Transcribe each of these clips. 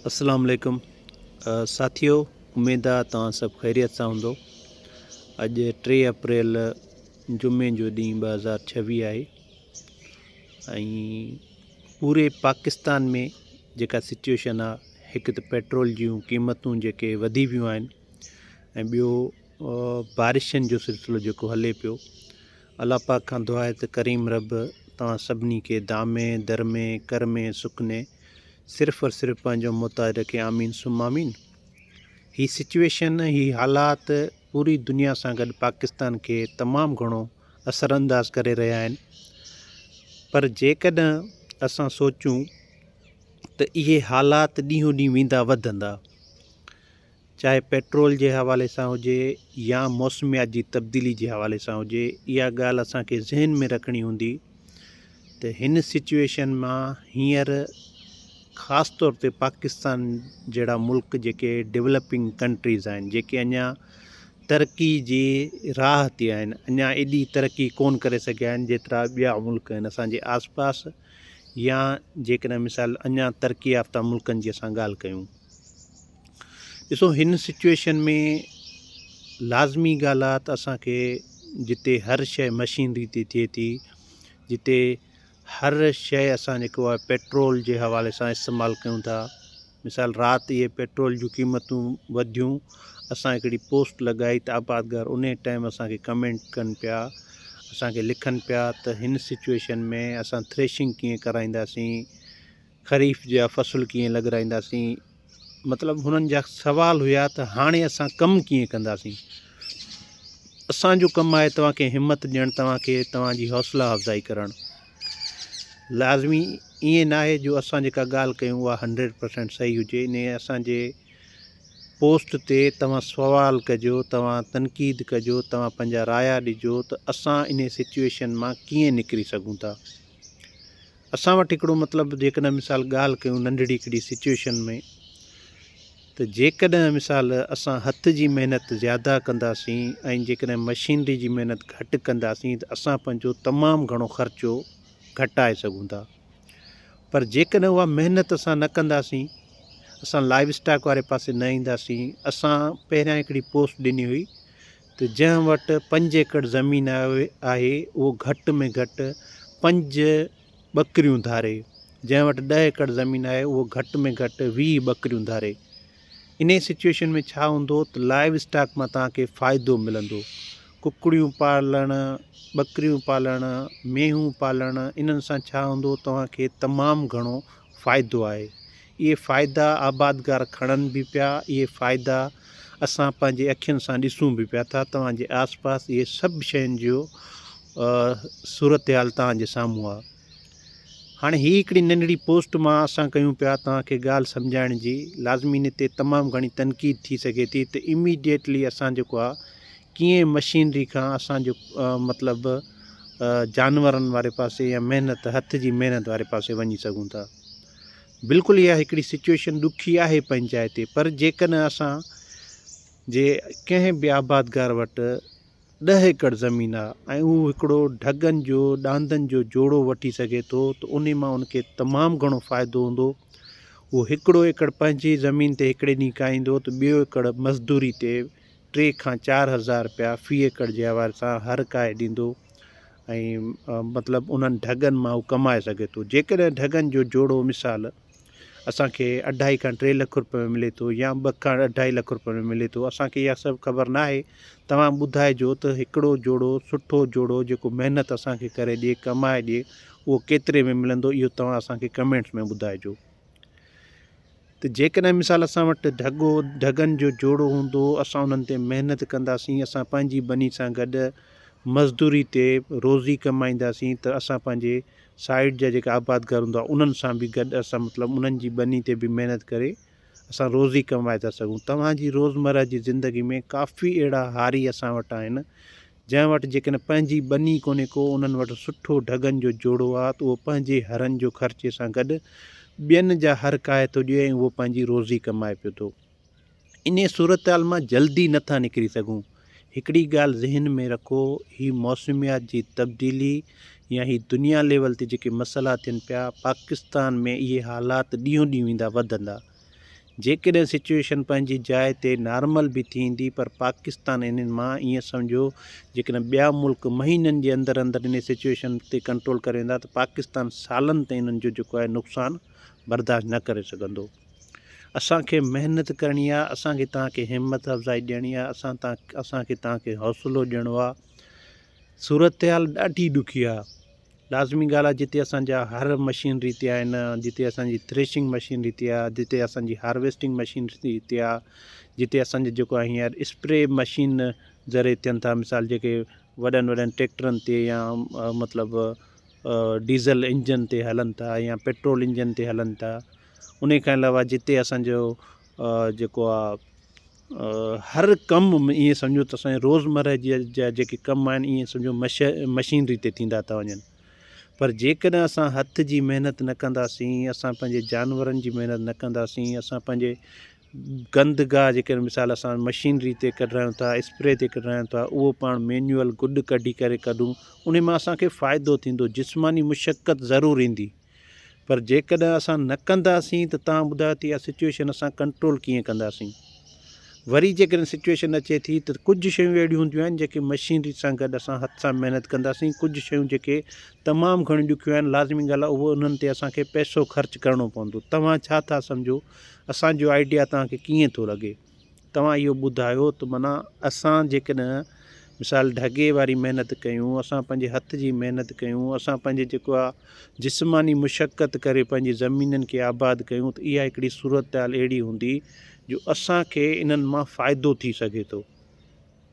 اسلام عليڪم ساٿيو اميد آ توهان سڀ خيريت سان هوندو اڄ ٽي اپريل جمعي جو ڏينهن ٻه هزار ڇويهه آهي ۽ پوري پاڪستان ۾ جيڪا سچويشن آ هڪ ته پيٽرول جون قيمتون جيڪي وڌي ويون آهن ۽ ٻيو بارشن جو سلسلو جيڪو هلي پيو الله پاڪ کان دعا آهي ته ڪريم رب توهان سڀني کي دامي درمي ڪرمي سڪني صرف اور صرف پنهنجو محتاج رکي آمين ثم آمين هي سچويشن هي حالات پوري دنيا سان گڏ پاڪستان کي تمام گهڻو اثر انداز ڪري رهيا آهن پر جيڪڏهن اسان سوچون ته اهي حالات ڏينهون ڏينهن ويندا وڌندا چاهي پيٽرول جي حوالي سان هجي يا موسميات جي تبديلي جي حوالي سان هجي اها ڳالهه اسان کي ذهن ۾ رکڻي هوندي ته هن سچويشن مان هينئر خاص طور تي پاڪستان جهڙا ملڪ جيڪي ڊيولپنگ ڪنٽريز آهن جيڪي اڃا ترقي جي راهه تي آهن اڃا ايڏي ترقي ڪون ڪري سگهيا آهن جيترا ٻيا ملڪ آهن اسانجي آس پاس يا جيڪڏهن مثال اڃا ترقي يافته ملڪن جي اسان ڳالهه ڪيون ڏسو هن سچويشن ۾ لازمي ڳالهه آهي ته اسانکي جتي هر شيء مشينري تي ٿئي ٿي جتي هر شيء اسان جيڪو آهي پيٽرول جي حوالي سان استعمال ڪيون ٿا مثال رات اهي پيٽرول جون قيمتون وڌيون اسان هڪڙي پوسٽ لڳائي ته آبادگار ان ٽائم اسانکي ڪمينٽ ڪن پيا اسانکي لکن پيا ته هن سچويشن ۾ اسان ٿريشنگ ڪيئن ڪرائينداسين خريف جا فصل ڪيئن لڳرائينداسين مطلب هنن جا سوال هيا ته هاڻي اسان ڪم ڪيئن ڪنداسين؟ اسان جو ڪم آهي توهان کي همت ڏيڻ، توهان کي توهان جي حوصلا افزائي ڪرڻ. لازمي ائين ناهي جو اسان جيڪا ڳالهه ڪيون اها هنڊريڊ پرسينٽ صحيح هجي، انهي اسان جي پوسٽ تي توهان سوال ڪجو، توهان تنقيد ڪجو، توهان پنهنجا رايا ڏجو ته اسان انهي سچوئيشن مان ڪيئن نڪري سگهون ٿا. اسان وٽ هڪڙو مطلب جيڪڏهن مثال ڳالهه ڪيون ننڍڙي هڪڙي سچوئيشن ۾ ته جيڪڏهن مثال اسان هٿ جي محنت زياده ڪنداسين ۽ جيڪڏهن مشينري جي محنت گهٽ ڪنداسين ته اسان پنهنجو تمام گهڻو خرچو گهٽائي سگهون ٿا پر جيڪڏهن اها محنت اسان نه ڪنداسين اسان لائيو اسٽاڪ واري پاسي نه اينداسين اسان پهريان هڪڙي پوسٽ ڏني هئي ته جنهن وٽ پنج ايڪڙ زمين آهي اهو گهٽ ۾ گهٽ پنج ٻڪريون ڌاري، جنهن وٽ ڏهه ايڪڙ زمين آهي اهو گهٽ ۾ گهٽ ويهه ٻڪريون ڌاري. انهيء سچوئيشن ۾ ڇا هوندو ته لائيو اسٽاڪ مان توهان کي فائدو ملندو. ڪڪڙيون پالڻ، ٻڪريون پالڻ، مينهون پالڻ انهن سان ڇا هوندو توهان کي تمام گهڻو فائدو آهي. اهي فائدا آبادگار کڻن به پيا، اهي فائدا اسان پنهنجي اکين سان ڏسون به پيا ٿا، توهان جي آس پاس اهي سڀ شين جو صورتحال توهان جي سامهون آهي. هاڻي هي هڪڙي ننڍڙي پوسٽ مان اسان ڪيون پيا توهان کي ڳالهه سمجهائڻ جي، لازمي ان تي تمام گهڻي تنقيد ٿي سگهي ٿي ته اميڊيٽلي اسان جيڪو آهي ڪيئن مشينري کان اسان جو مطلب جانورن واري پاسي يا محنت هٿ جي محنت واري پاسي وڃي سگهون ٿا بلڪل اها هڪڙي سچويشن ڏکي آهي پنهنجي جاء تي پر جيڪڏهن اسان جي ڪنهن به آبادگار وٽ ڏهه ايڪڙ زمين آهي ۽ اهو هڪڙو ڍڳن جو ڏاندن جو جوڙو وٺي سگهي ٿو ته ان مان ان کي تمام گهڻو فائدو هوندو اهو هڪڙو ايڪڙ پنهنجي زمين تي هڪڙي ڏينهن کائيندو ته ٻيو ايڪڙ مزدوري تي ٽي کان چار هزار رپيا في ايڪڙ جي حوالي سان هر ڪاهي ڏيندو ۽ مطلب انهن ڍڳن مان هو ڪمائي سگهي ٿو جيڪڏهن ڍڳن جو جوڙو مثال اسان کي اڍائي کان ٽي لک رپئي ۾ ملي ٿو يا ٻه کان اڍائي لک رپئي ۾ ملي ٿو اسان کي اها سڀ خبر نه آهي توهان ٻڌائجو ته هڪڙو جوڙو سٺو جوڙو جيڪو محنت اسان کي ڪري ڏي ڪمائي ڏي اهو ڪيتري ۾ ملندو اهو توهان اسان کي ڪمينٽس ۾ ٻڌائجو ته جيڪڏهن مثال اسان وٽ ڍڳو ڍڳن جو جوڙو هوندو، اسان انهن تي محنت ڪنداسين، اسان پنهنجي ٻني سان گڏ مزدوري تي روزي ڪمائينداسين ته اسان پنهنجي سائيڊ جا جيڪا آبادگار هوندا انهن سان به گڏ اسان مطلب انهن جي ٻني تي به محنت ڪري اسان روزي ڪمائي ٿا سگهون. توهان جي روزمره جي زندگي ۾ ڪافي اهڙا هاري اسان وٽ آهن جنهن وٽ جيڪڏهن پنهنجي ٻني ڪونهي ڪو انهن وٽ سٺو ڍڳن جو جوڙو آ ته اهو پنهنجي هرن جو خرچي سان گڏ ٻين جا هر ڪاهي ٿو ڏئي ۽ اهو پنهنجي روزي ڪمائي پيو ٿو. انهيء صورتحال مان جلدي نه ٿا نڪري سگهون. هڪڙي ڳالهه ذهن ۾ رکو هي موسميات جي تبديلي يا هي دنيا ليول تي جيڪي مسئلا ٿين پيا پاڪستان ۾ اهي حالات ڏينهون ڏينهن ويندا وڌندا. جيڪڏهن سچوئيشن پنهنجي جاء تي نارمل به ٿيندي پر پاڪستان انهن مان ائين سمجهو جيڪڏهن ٻيا ملڪ مهينن جي اندر اندر انهي سچوئيشن تي ڪنٽرول ڪري ويندا ته پاڪستان سالن تائين انهن جو جيڪو آهي نقصان برداشت نه ڪري سگهندو. اسان کي محنت ڪرڻي آهي، اسان کي توهان کي همت افزائي ڏيڻي آهي، اسان توهان اسان کي توهان کي حوصلو ڏيڻو آهي. صورتحال ڏاڍي ڏکي آهي. لازمي ڳالهه آهي جتي اسان جا هر مشينري هتي آهن جتي اسان جي ٿريشنگ مشين هتي آهي جتي اسان جي هارويسٽنگ مشين هتي آهي جتي اسان جي جيڪو آهي هينئر اسپري مشين ذريعي ٿين ٿا مثال جيڪي وڏن وڏن ٽيڪٽرن تي يا مطلب ڊيزل انجن تي هلن ٿا يا پيٽرول انجن تي هلن ٿا انهي کان علاوه جتي اسان جو جيڪو آ هر ڪم ايئن سمجهو ته اسان جي روزمره جي جا جيڪي ڪم آهن ايئن سمجهو مش مشينري تي ٿيندا ٿا وڃن پر جيڪڏهن اسان هٿ جي محنت نه ڪنداسين اسان پنهنجي جانورن جي محنت نه ڪنداسين اسان پنهنجي گند گاهه جيڪڏهن مثال اسان مشينري تي ڪڍرايون ٿا اسپري تي ڪڍرايون ٿا اهو پاڻ مينيوئل گڏ ڪڍي ڪري ڪڍون ان مان اسانکي ڦائدو ٿيندو جسماني مشقت ضرور ايندي پر جيڪڏهن اسان نه ڪنداسين ته توهان ٻڌايو ته اها سچوئيشن اسان ڪنٽرول ڪيئن ڪنداسين؟ وري جيڪڏهن سچوئيشن اچي ٿي ته ڪجهه شيون اهڙيون هونديون آهن جيڪي مشينري سان گڏ اسان هٿ سان محنت ڪنداسين ڪجهه شيون جيڪي تمام گهڻيون ڏکيون آهن لازمي ڳالهه آهي اهو انهن تي اسان کي پئسو خرچ ڪرڻو پوندو توهان ڇا ٿا سمجهو اسان جو آئيڊيا توهان کي ڪيئن ٿو لڳي؟ توهان اهو ٻڌايو ته معنيٰ اسان جيڪڏهن مثال ڍڳي واري محنت ڪيون، اسان پنهنجي هٿ جي محنت ڪيون، اسان پنهنجي جيڪو آ جسماني مشقت ڪري پنهنجي زمينن کي آباد ڪيون ته اها هڪڙي صورتحال اهڙي هوندي جو اسان کي انهن مان فائدو ٿي سگهي ٿو.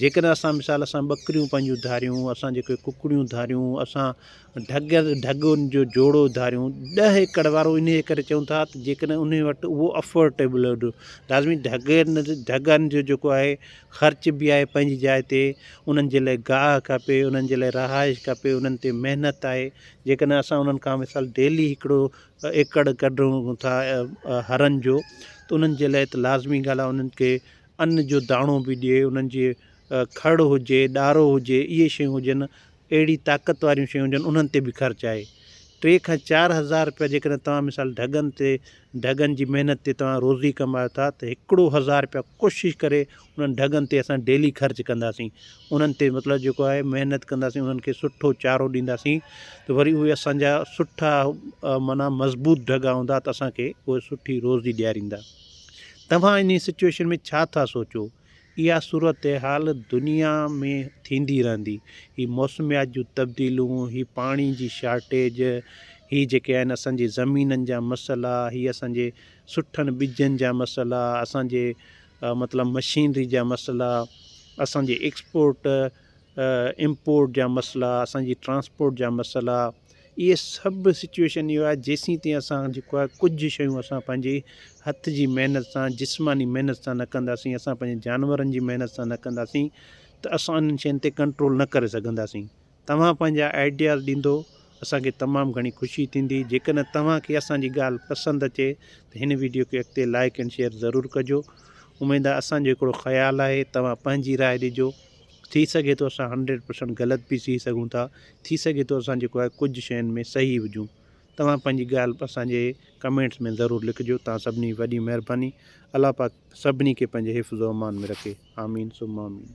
جيڪڏهن اسان مثال اسان ٻڪريون پنهنجون ڌاريون، اسان جيڪي ڪڪڙيون ڌاريون، اسان ڍڳ ڍڳ ان جو جوڙو ڌاريون، ڏهه ايڪڙ وارو انهيء ڪري چئون ٿا ته جيڪڏهن ان وٽ اهو افورٽيبل لازمي ڍڳ ڍڳن جو جيڪو آهي خرچ به آهي پنهنجي جاء تي، انهن جي لاء گاهه کپي، انهن جي لاء رهائش کپي، انهن تي محنت آهي، جيڪڏهن اسان انهن کان مثال ڊيلي هڪڙو ايڪڙ ڪڍون ٿا هرن جو ته انهن جي لاء ته لازمي ڳالهه آهي انهن کي ان جو داڻو به ڏئي، انهن جي کڙ هجي، ڏارو هجي، اهي شيون هجن، اهڙي طاقت واريون شيون هجن، انهن تي به خرچ آهي. ٽي کان چار هزار رپيا جيڪڏهن توهان مثال ڍڳن تي ڍڳن جي محنت تي توهان روزي ڪمايو ٿا ته هڪڙو هزار رپيا ڪوشش ڪري انهن ڍڳن تي اسان ڊيلي خرچ ڪنداسين. انهن تي مطلب جيڪو آهي محنت ڪنداسين، انهن کي سٺو چارو ڏينداسين ته وري اهي اسان جا سٺا معنيٰ مضبوط ڍڳا هوندا ته اسان کي اهي سٺي روزي ڏياريندا. توهان انهي سچوئيشن ۾ ڇا ٿا سوچو؟ اها صورتحال دنيا ۾ ٿيندي رهندي. هي موسميات جون تبديلون، هي پاڻي جي شارٽيج، هي جيڪي آهن اسان جي زمينن جا مسئلا، هي اسان جي سٺن ٻجن جا مسئلا، اسان جي مطلب مشينري جا مسئلا، اسان جي ايڪسپورٽ، امپورٽ جا مسئلا اسان جي ٽرانسپورٽ جا مسئلا اهي سڀ سچويشن اهو آهي جيسين تائين اسان جيڪو آهي ڪجهه شيون اسان پنهنجي هٿ جي محنت سان جسماني محنت سان نه ڪنداسين اسان پنهنجي جانورن جي محنت سان نه ڪنداسين ته اسان انهن شين تي ڪنٽرول نه ڪري سگهنداسين توهان پنهنجا آئيڊياز ڏيندو اسان کي تمام گهڻي خوشي ٿيندي جيڪڏهن توهان کي اسان جي ڳالهه پسند اچي ته هن ويڊيو کي اڳتي لائيڪ اينڊ شيئر ضرور ڪجو اميد آهي اسان جو هڪڙو خيال آهي توهان پنهنجي راء ڏجو ٿي سگهي ٿو اسان هنڊريڊ پرسنٽ غلط به ٿي سگهون ٿا ٿي سگهي ٿو اسان جيڪو آهي ڪجهه شين ۾ صحيح هجون توهان پنهنجي ڳالهه اسان جي ڪمينٽس ۾ ضرور لکجو توهان سڀني جي وڏي مهرباني الله پاڪ سڀني کي پنهنجي حفظ و امان ۾ رکي آمين ثم آمين.